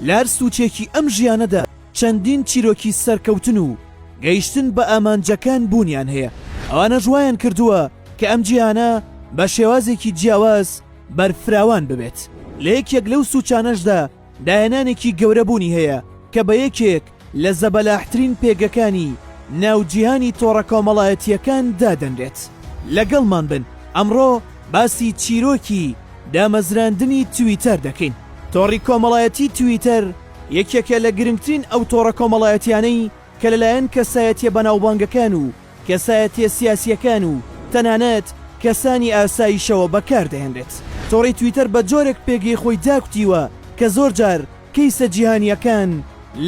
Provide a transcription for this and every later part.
لەهەر سوچێکی ئەم ژیانەدا چەندین چیرۆکی سەرکەوتن و گەیشتن بە ئامانجەکان بوونیان هەیە، ئەوانەش وایان کردووە کە ئەم جیهانە بە شێوازێکی جیاواز بەرفراوان ببێت، لە یەکێک لەو سوچانەشدا داهێنانێکی گەورە بوونی هەیە کە بە یەکێک. لە زەبەلاحترین پێگەکانی ناو جیهانی تۆڕە کۆمەڵایەتییەکان دادەنرێت. لەگەڵمان بن، ئەمڕۆ باسی چیرۆکی دامەزراندنی تویتەر دەکەین. تۆڕی کۆمەڵایەتی تویتەر یەکێکە لە گرنگترین ئەو تۆڕە کۆمەڵایەتیانەی کە لەلایەن کەسایەتیە بەناوبانگەکان و کەسایەتیە سیاسیەکان و تەنانەت کەسانی ئاسایشەوە بەکار دەهێنرێت. تۆڕی تویتەر بە جۆرێک پێگەی خۆی داکوتیوە کە زۆر جار کەیسە جیهانیەکان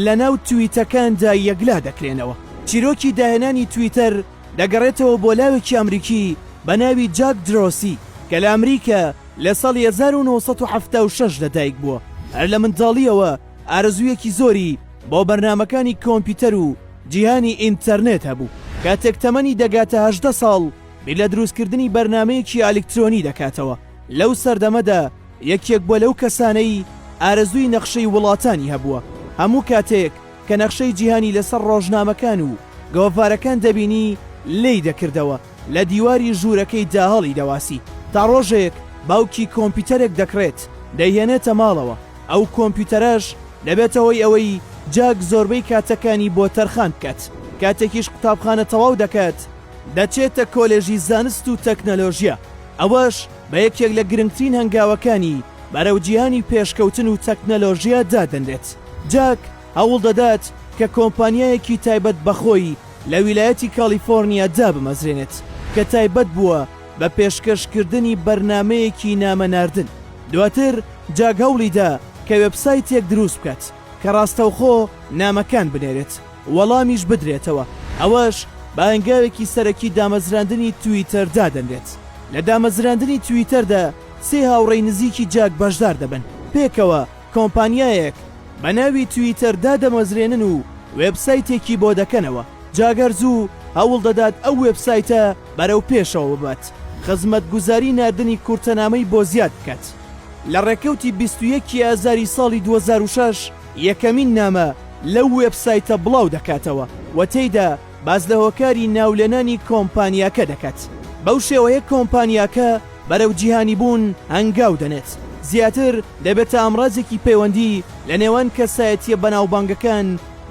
لە ناو تویتەکاندا یەکلا دەکرێنەوە. چیرۆکی داهێنانی تویتەر دەگەڕێتەوە بۆ لاوێکی ئەمریکی بە ناوی جاک درۆسی کە لە ئەمریکا لە ساڵی هەزار و نۆ سەد و حەفتا و شەش لە دایک بووە. هەر لە منداڵیەوە، ئارەزوویەکی زۆری بۆ بەرنامەکانی کۆمپیوتەر و جیهانی ئینتەرنێت هەبوو. کاتێک تەمەنی دەگاتە هەژدە ساڵ، بیر لە دروستکردنی بەرنامەیەکی ئەلیکترۆنی دەکاتەوە. لەو سەردەمەدا یەکێک بووە لەو کەسانەی ئارەزووی نەخشەی وڵاتانی هەبووە. هەموو کاتێک کە نەخشەی جیهانی لەسەر ڕۆژنامەکان و گۆڤارەکان دەبینی، لێی دەکردەوە. لە دیواری ژوورەکەی داهەڵی دەواسی تا ڕۆژێک باوکی کۆمپیوتەرێک دەکڕێت دەیهێنێتە ماڵەوە ئەو کۆمپیوتەرەش دەبێتە هۆی ئەوەی جاک زۆربەی کاتەکانی بۆ تەرخان بکات کاتێکیش قوتابخانە تەواو دەکات دەچێتە کۆلێژی زانست و تەکنەلۆژیا ئەوەش بە یەکێک لە گرنگترین هەنگاوەکانی بەرەو جیهانی پێشکەوتن و تەکنەلۆژیا دادەنرێت جاک هەوڵ دەدات کە کۆمپانیایەکی تایبەت بە خۆی لە ویلایەتی کالیفۆرنیا دابمەزرێنێت کە تایبەت بووە بە پێشکەشکردنی بەرنامەیەکی نامەناردن. دواتر جاک هەوڵی دا کە وێبسایتێک دروست بکات کە ڕاستەوخۆ نامەکان بنێرێت و وەڵامیش بدرێتەوە، ئەوەش بە هەنگاوێکی سەرەکی دامەزراندنی تویتەر دادەنرێت. لە دامەزراندنی تویتەردا سێ هاوڕێی نزیکی جاک بەشدار دەبن پێکەوە، کۆمپانیایەک بە ناوی تویتەر دادەمەزرێنن و وێبسایتێکی بۆ دەکەنەوە، جا گەر زوو هەوڵ دەدات ئەو وێبسایتە بەرەو پێشەوە ببات، خزمەتگوزاری ناردنی کورتەنامەی بۆ زیاد بکات. لە ڕێکەوتی بیست و یەک ی ئازاری ساڵی دوو هەزار و شەش یەکەمین نامە لەو وێبسایتە بڵاو دەکاتەوە و تێیدا، باس لە هۆکاری ناولێنانی کۆمپانیاکە دەکات، بەو شێوەیە کۆمپانیاکە بەرەو جیهانیبوون هەنگاو دەنێت، زیاتر دەبێتە ئامڕازێکی پەیوەندی لە نێوان کەسایەتییە بەناوبانگەکان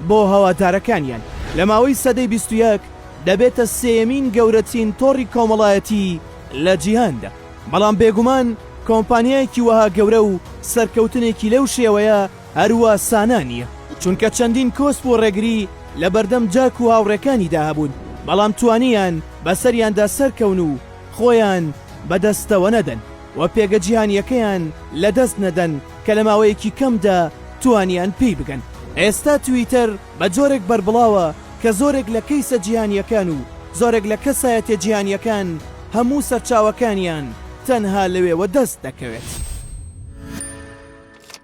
بۆ هەوادارەکانیان. لە ماوەی سەدەی بیست و یەک دەبێتە سێیەمین گەورەترین تۆڕی کۆمەڵایەتی لە جیهاندا، بەڵام بێگومان کۆمپانیایەکی وەها گەورە و سەرکەوتنێکی لەو شێوەیە، هەروا سانا نییە، چونکە چەندین کۆسپ و ڕێگری لە بەردەم جاک و هاوڕێکانیدا هەبوون، بەڵام توانییان بەسەریاندا سەرکەون و خۆیان بەدەستەوە نەدەن و پێگە جیهانییەکەیان لەدەست نەدەن کە لە ماوەیەکی کەمدا توانییان پێی بگەن. ئێستا تویتەر بە جۆرێک بەربڵاوە کە زۆرێک لە کەیسە جیهانییەکان و زۆرێک لە کەسایەتییە جیهانییەکان هەموو سەرچاوەکانیان تەنها لەوێوە دەست دەکەوێت.